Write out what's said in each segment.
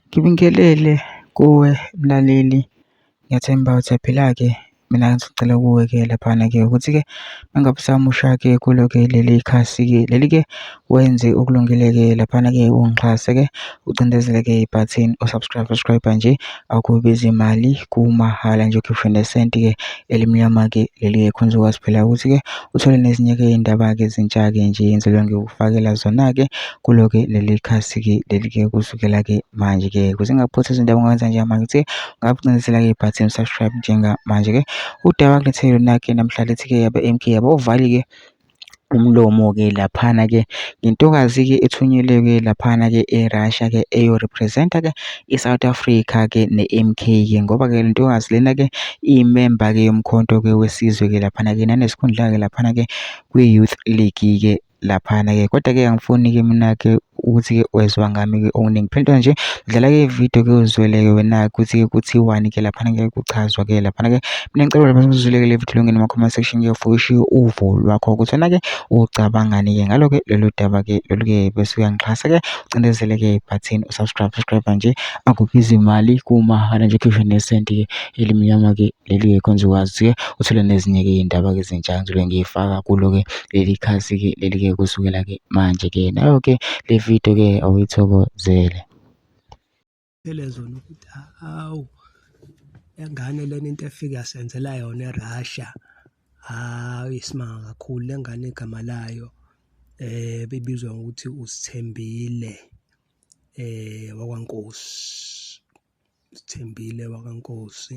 Ngibingelele kuwe mlaleli, ngiyathemba usaphila-ke. Mina ngisacela kuwe-ke laphana-ke ukuthi-ke uma ngabe usamusha-ke kulo-ke leli khasi-ke leli-ke wenze okulungile-ke laphana-ke ungixhase-ke ucindezele-ke ibhathini o-subscribe, subscribe-a nje akubizi mali kumahhala nje ukhiphe nesenti-ke elimnyama-ke leli-ke khonze ukwazi phela ukuthi-ke uthole nezinye-ke iy'ndaba-ke ezintsha-ke nje engizobe ngikufakela zona-ke. kulo-ke leli khasi-ke leli-ke kusukela-ke manje-ke kuze ngakuphothi izinto abangakwenza njengamanje ukuthi ungabcinezela-ke ibhathini subscribe njengamanje-ke udaba kulethe lona-ke namhla lethi-ke yabe MK yabo uvali-ke umlomo-ke laphana-ke ngentokazi-ke ethunyelwe-ke laphana-ke e-Russia-ke eyorepresenta-ke i-South Africa-ke ne-MK-ke ngoba-ke le ntokazi lena-ke iyimemba-ke yomkhonto-ke wesizwe-ke laphana-ke nanesikhundla-ke laphana-ke kwi-Youth League-ke laphana-ke kodwa-ke angifuni-ke mina-ke ukuthi-ke wezwa ngami-ke okuningi phelintwana nje dlala-ke ividiyo ke uzweleke wena-ke ukuthi-ke kuthiwani-ke laphana-ke kuchazwa-ke laphana-ke mina ngicela lapha uzweleke le vidiyo longene ama-comment section ke ufike ushiye uvo lwakho ukuthi wena-ke ucabangani-ke ngalo-ke lolu daba-ke lolu-ke bese uyangixhasa-ke ucindezele-ke ibhathini usubscribe subscribe nje akubizi imali kumahhala nje khishwe nesenti-ke elimnyama-ke leli-ke khonze ukwazi-ke uthole nezinye-ke iy'ndaba-ke ezintsha ngizole ngiyifaka kulo-ke leli khasi-ke leli-ke kusukela-ke manje-ke nayo-ke le video-ke awuyithokozele elezo nokuthi hawu engane lena into efike yasenzela yona erussia hawu isimanga kakhulu le ngane igama layo eh bibizwa ngokuthi usithembile eh wakwankosi Sithembile wakaNkosi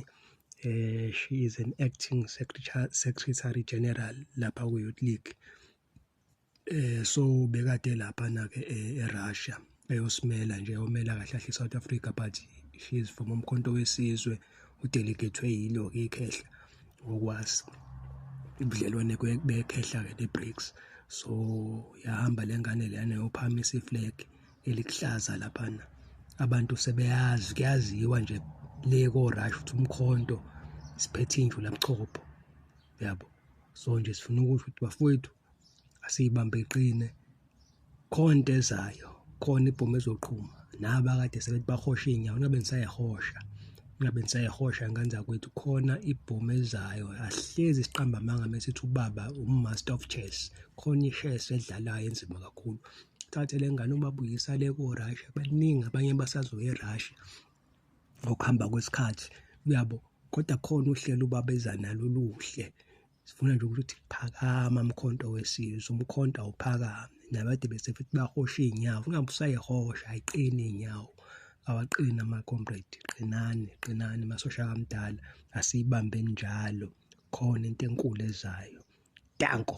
eh she is an acting secretary, secretary general lapha ku Youth League eh so bekade lapha na ke eh, eRussia eyosimela nje yomela kahle kahle South Africa but she is from umkhonto wesizwe udelegethwe yilo ke ikhehla ngokwazi ubudlelwane bekhehla ke neBRICS so yahamba lengane leyana yophamisa iflag elikuhlaza laphana abantu sebeyazi kuyaziwa nje le korush ukuthi umkhonto siphethe indlu labuchopho yabo so nje sifuna ukusho ukuthi bafowethu asiyibambe iqine khonto ezayo khona ibhomu ezoqhuma naba kade sebethi bahosha iy'nyawo nabe nisayihosha ngabe nisayihosha ngane zakwethu khona ibhomu ezayo ahlezi siqamba amanga mesithi ubaba umaster of chess khona i-chess edlalayo enzima kakhulu thathe le ngane ubabuyisa le ko-Russia baningi abanye basazoya e-Russia ngokuhamba kwesikhathi uyabo kodwa khona uhlelo ubaba eza nalo oluhle sifuna nje ukuthi phakama mkhonto wesizwe umkhonto awuphakame nabade bese futhi bahosha iy'nyawo ungabe usayihosha ayiqini iy'nyawo awaqini ama-comrade qinani qinani masosha kamdala asiyibambe njalo khona into enkulu ezayo danko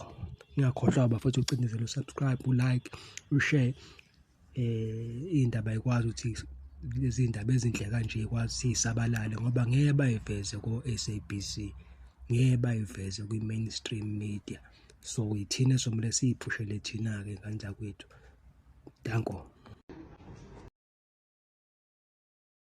ngiyakhohlwa bafethu ucindezela usubscribe ulike ushare eh indaba ikwazi ukuthi lezi ndaba ezinhle kanje ikwazi sisabalale ngoba ngeke bayiveze ko SABC ngeke bayiveze kwi mainstream media so ithina somle siyiphushele thina ke kanjani kwethu danko